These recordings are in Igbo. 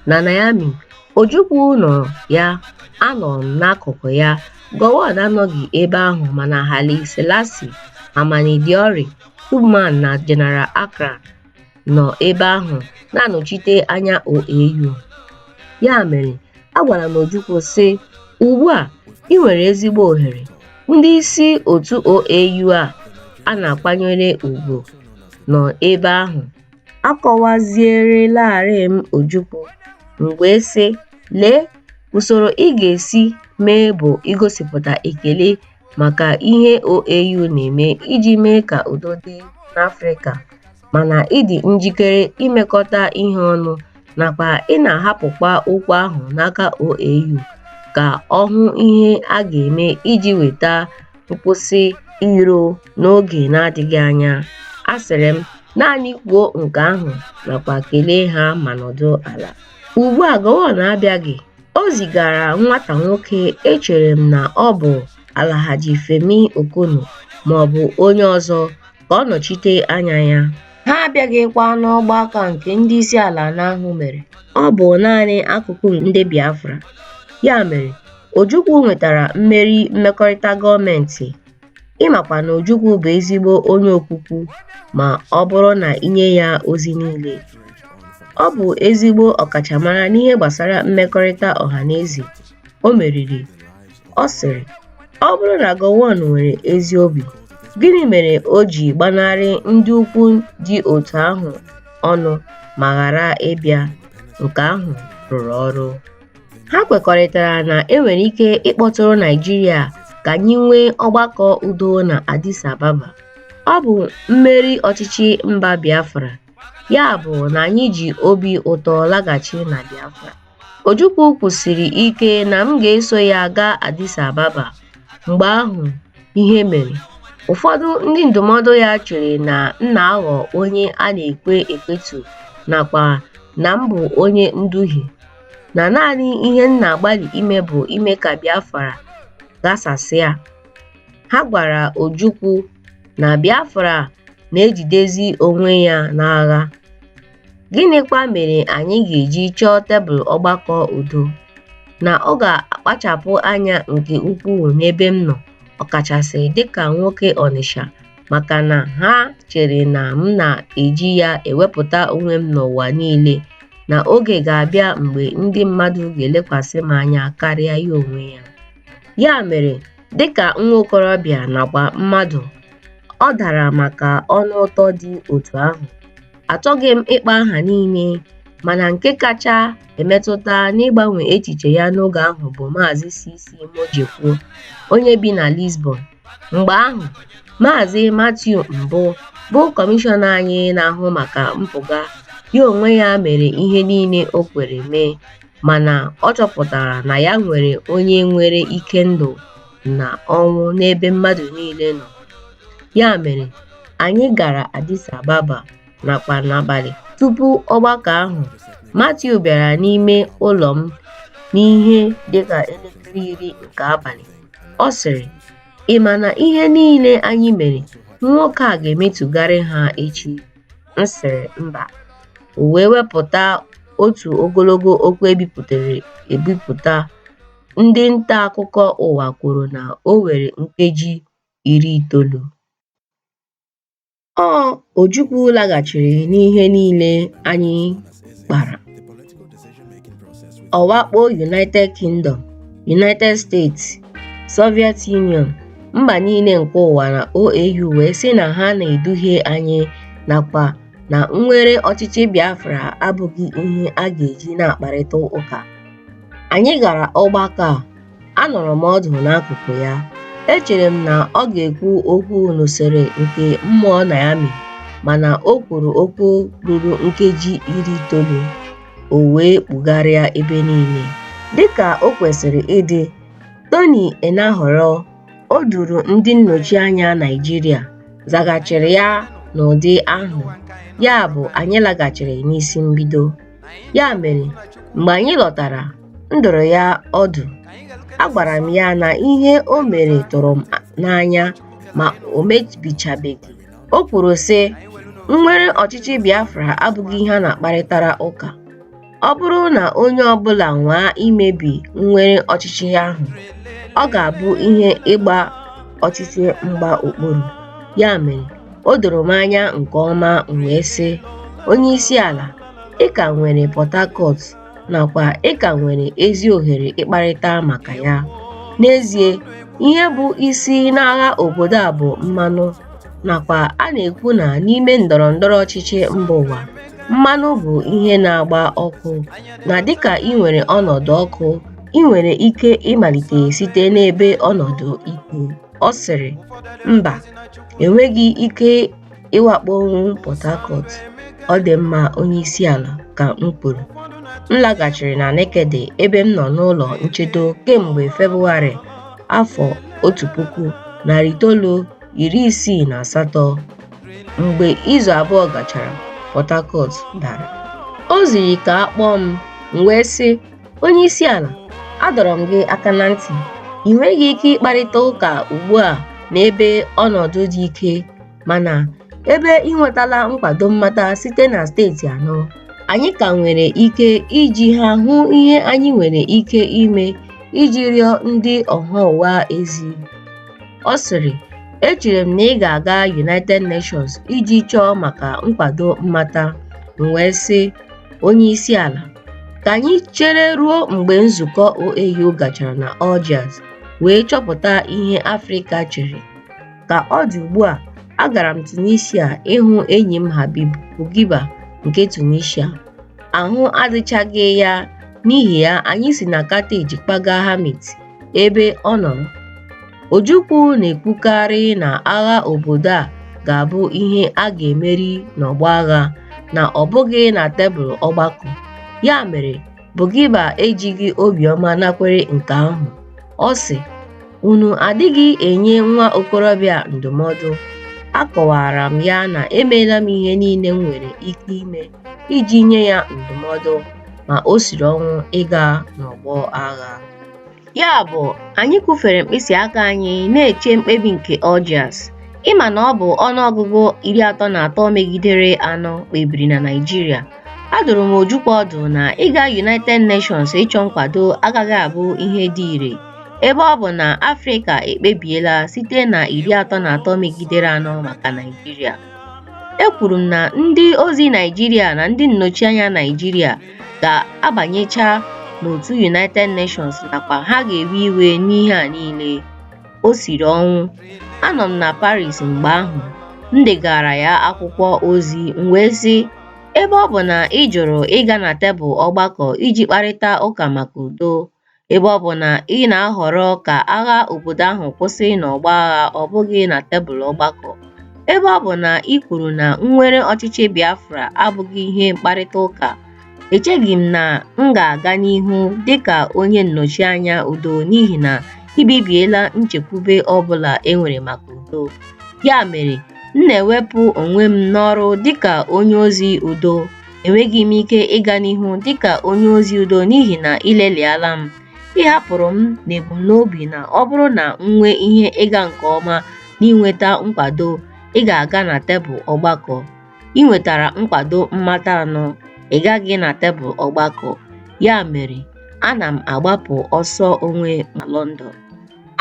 na Niamey, Ojukwu nọrọ ya, anọrọ m n'akụkụ ya. Gowon anọghị ebe ahụ mana Haile Selassie, Hamani Diori, Tubman na General Ankrah nọ ebe ahụ na-anọchite anya OAU. Ya mere, agwara m Ojukwu sị, Ugbu a i nwere ezigbo ohere, ndị isi otu OAU a a na-akwanyere ugwu nọ ebe ahụ. Akọwazierelarị m Ojukwu, m wee sị, Lee, usoro ị ga-esi mee bụ igosipụta ekele maka ihe OAU na-eme iji mee ka udo dị n'Afrịka, mana ịdị njikere imekọta ihe ọnụ nakwa ị na-ahapụkwa okwu ahụ n'aka OAU ka ọ hụ ihe a ga-eme iji weta nkwụsị iro n'oge na-adịghị anya. Asịrị m, naanị kwuo nke ahụ nakwa kelee ha ma nọdụ ala. Ugbu a Gowon abịaghị, o zigara nwata nwoke echere m na ọ bụ Alhaji Femi Okunnu maọbụ onye ọzọ ka ọ nọchite anya ya. Ha abịaghịkwa n'ọgbakọ nke ndị isi ala anọ ahụ mere. Ọ bụ naanị akụkụ ndị Biafra. Ya mere, Ojukwu nwetara mmeri mmekọrịta gọọmentị. Ị makwa na Ojukwu bụ ezigbo onye okwukwu ma ọ bụrụ na i nye ya ozi niile. Ọ bụ ezigbo ọkachamara n'ihe gbasara mmekọrịta ọha na eze. O meriri. Ọ sịrị, Ọ bụrụ na Gowon nwere ezi obi, gịnị mere o ji gbanarị ndị ukwu dị otu ahụ ọnụ ma ghara ịbịa? Nke ahụ rụrụ ọrụ. Ha kwekọrịtara na e nwere ike ịkpọtụrụ Naịjirịa ka anyị nwee ọgbakọ udo na Addis Ababa. Ọ bụ mmeri ọchịchị mba Biafra, ya bụ na anyị ji obi ụtọ laghachi na Biafra. Ojukwu kwusiri ike na m ga-eso ya gaa Addis Ababa. Mgbe ahụ, ihe mere. Ụfọdụ ndị ndụmọdụ ya chere na m na-aghọ onye a na-ekwe ekwetu nakwa na m bụ onye nduhie, na naanị ihe m na-agbalị ime bụ ime ka Biafra ghasasịa. Ha gwara Ojukwu na Biafra na-ejidezi onwe ya n'agha. Gịnịkwa mere anyị ga-eji chọọ tebụl ọgbakọ udo? Na ọ ga-akpachapụ anya nke ukwuu n'ebe m nọ, ọkachasị dịka nwoke Ọnịsha, maka na ha chere na m na-eji ya ewepụta onwe m n'ụwa niile, na oge ga-abịa mgbe ndị mmadụ ga-elekwasị m anya karịa ya onwe ya. Ya mere, dịka nwa okorobịa nakwa mmadụ, ọ dara maka ọnụ ụtọ dị otu ahụ. Achọghị m ịkpa aha niile, mana nke kacha emetụta n'ịgbanwe echiche ya n'oge ahụ bụ Maazị CC Mojekwu, onye bi na Lisbon. Mgbe ahụ, Maazị Matthew Mbụ, bụ kọmishọna anyị na-ahụ maka mpụga, ya onwe ya mere ihe niile o kwere mee, mana ọ chọpụtara na ya nwere onye nwere ike ndụ na ọnwụ n'ebe mmadụ niile nọ. Ya mere, anyị gara Addis Ababa nakwa n'abalị tupu ọgbakọ ahụ. Matthew bịara n'ime ụlọ m n'ihe dị ka elekere iri nke abalị. Ọ sịrị, Ị ma na ihe niile anyị mere, nwoke a ga-emetụgharị ha echi? M sịrị, Mba. O wee wepụta otu ogologo okwu e bipụtara ebipụta. Ndị nta akụkọ ụwa kwuru na o were nkeji iri itoolu. Ọ Ojukwu laghachiri n'ihe niile anyị kpara. Ọ wakpo United Kingdom, United States, Soviet Union, mba niile nke ụwa na OAU wee sị na ha na-eduhie anyị nakwa na nnwere ọchịchị Biafra abụghị ihe a ga-eji na-akparịta ụka. Anyị gara ọgbakọ a Anọrọ m ọdụ n'akụkụ ya. Echere m na ọ ga-ekwu okwu n'usoro nke mmụọ Niamey, mana o kwuru okwu ruru nkeji iri itoolu, o wee kpugharịa ebe niile. Dị ka o kwesịrị ịdị, Tony Enahoro, o duru ndị nnọchianya Naịjirịa, zaghachiri ya n'ụdị ahụ, yabụ anyị laghachiri n'isi mbido. Ya mere, mgbe anyị lọtara, m dụrụ ya ọdụ. Agwara m ya na ihe o mere tụrụ m n'anya ma o mebichabeghị. O kwuru, sị, Nnwere ọchịchị Biafra abụghị ihe a na-akparịtara ụka. Ọ bụrụ na onye ọ bụla nwaa imebi nnwere ọchịchị ahụ, ọ ga-abụ ihe ịgba ọchịchị mgba okpuru. Ya mere, o doro m anya nke ọma, m wee sị, Onye isi ala, ị ka nwere Port Harcourt nakwa ị ka nwere ezi ohere ịkparịta maka ya. N'ezie, ihe bụ isi n'agha obodo a bụ mmanụ, nakwa a na-ekwu na n'ime ndọrọ ndọrọ ọchịchị mba ụwa, mmanụ bụ ihe na-agba ọkụ, na dịka i nwere ọnọdụ ọkụ, i nwere ike ịmalite site n'ebe ọnọdụ ikwu. Ọ sịrị, Mba, enweghị ike ịwakpo Port Harcourt, ọ dị mma onye isi ala, ka m kwuru. M laghachiri na Nekede ebe m nọ n'ụlọ nchedo kemgbe Febụwarị afọ otu puku, narị itoolu iri isii na asatọ. Mgbe izu abụọ gachara, Port Harcourt dara. O ziri ka a kpọọ m, m wee sị, Onye isi ala, adọrọ m gị aka na ntị, i nweghị ike ịkparịta ụka ugbu a n'ebe ọnọdụ dị ike Mana ebe i nwetala nkwado mmata site na steeti anọ, anyị ka nwere ike iji ha hụ ihe anyị nwere ike ime iji rịọ ndị ọha ụwa ezi. Ọ sịrị, Echere m na ị ga-aga United Nations iji chọọ maka nkwado mmata. M wee sị, Onyeisiala, ka anyị chere ruo mgbe nzukọ OAU gachara na Algiers wee chọpụta ihe Afrịka chere. Ka ọ dị ugbu a, agara m Tunisia ịhụ enyi m Habib Bourguiba nke Tunisia. Ahụ adịchaghị ya, n'ihi ya anyị si na Carthage kpaga Hamit, ebe ọ nọrọ. Ojukwu na-ekwukarị na agha obodo a ga-abụ ihe a ga-emeri n'ọgbọ agha, na ọ bụghị na tebụl ọgbakọ. Ya mere, Bourguiba ejighị obiọma nakwere nke ahụ. Ọ sị, Unu adịghị enye nwa okorobịa ndụmọdụ. Akọwaara m ya na emeela m ihe niile m nwere ike ime iji nye ya ndụmọdụ, ma o siri ọnwụ ịga n'ọgbọ agha. Ya bụ, anyị kwụfere mkpịsị aka anyị na-eche mkpebi nke Algiers. Ị ma na ọ bụ ọnụọgụgụ iri atọ na atọ megidere anọ kpebiri na Naịjirịa. Adụrụ m Ojukwu ọdụ na ịga United Nations ịchọ nkwado agaghị abụ ihe dị ire ebe ọ bụ na Afrịka ekpebiela site na iri atọ na atọ megidere anọ maka Naịjirịa. Ekwuru m na ndị ozi Naịjirịa na ndị nnọchianya Naịjirịa ga-abanyecha n'otu United Nations nakwa ha ga-ewe iwe n'ihe a niile. O siri ọnwụ. Anọ m na Paris mgbe ahụ. M degara ya akwụkwọ ozi m wee sị, Ebe ọ bụ na ị jụrụ ịga na tebụl ọgbakọ iji kparịta ụka maka udo, ebe ọ bụ na ị na-ahọrọ ka agha obodo ahụ kwụsị n'ọgbọ agha ọ bụghị na tebụl ọgbakọ. Ebe ọ bụ na i kwuru na nnwere ọchịchị Biafra abụghị ihe mkparịta ụka, echeghị m na m ga-aga n'ihu dị ka onye nnọchianya udo n'ihi na i bibiela nchekwube ọ bụla e nwere maka udo. Ya mere, m na-ewepụ onwe m n'ọrụ dịka onye ozi udo Enweghị m ike ịga n'ihu dị ka onye ozi udo n'ihi na ị lelịala m. Ị hapụrụ m n'ebumnobi na ọ bụrụ na m nwee ihe ịga nke ọma n'inweta nkwado, ị ga-aga na tebụl ọgbakọ. Ị nwetara nkwado mmata anọ, ị gaghị na tebụl ọgbakọ. Ya mere, ana m agbapụ ọsọ onwe m London.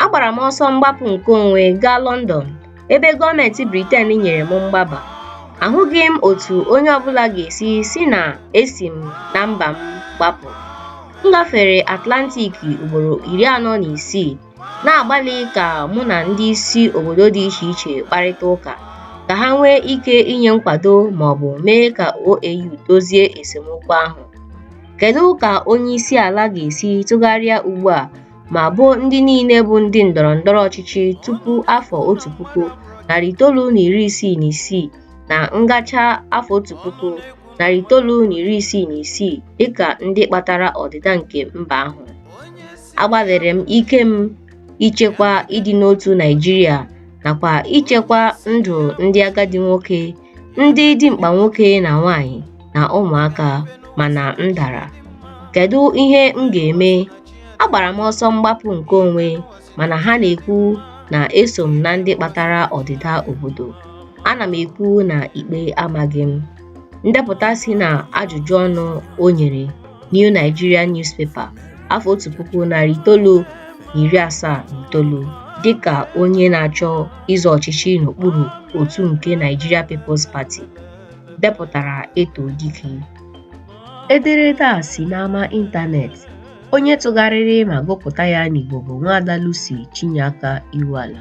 Agbara m ọsọ mgbapụ nke onwe gaa London ebe gọọmenti Britain nyere m mgbaba. Ahụghị m otu onye ọbụla ga-esi sị na esi m na mba m gbapụ. M gafere Atlantic ugboro iri anọ na isii na-agbalị ka mụ na ndị isi obodo dị iche iche kparịta ụka ka ha nwee ike inye nkwado ma ọ bụ mee ka OAU dozie esemokwu ahụ. Kedu ka onye isi ala ga-esi tụgharịa ugbu a ma boo ndị niile bụ ndị ndọrọ ndọrọ ọchịchị tupu afọ otu puku narị itoolu na iri isii na isii na ngacha afọ otu puku narị itoolu na iri isii na isii dịka ndị kpatara ọdịda nke mba ahụ agbalịrị m ike m ichekwa ịdị n'otu Naịjirịa nakwa ichekwa ndụ ndị agadi nwoke ndị dimkpa nwoke na nwanyị na ụmụaka mana m dara kedu ihe m ga-eme agbara m ọsọ mgbapụ nke onwe mana ha na-ekwu na eso m na ndị kpatara ọdịda obodo ana m ekwu na ikpe amaghị m ndepụta si na ajụjụ ọnụ o nyere New Nigerian Newspaper afọ otu puku narị itoolu na iri asaa na itoolu dịka onye na-achọ ịzọ ọchịchị n'okpuru otu nke Nigeria People's Party depụtara eto dike ederede a si n'ama ịntanetị onye tụgharịrị ma gụpụta ya n'Igbo bụ Nwaada Lucy Chinyeaka Iwuala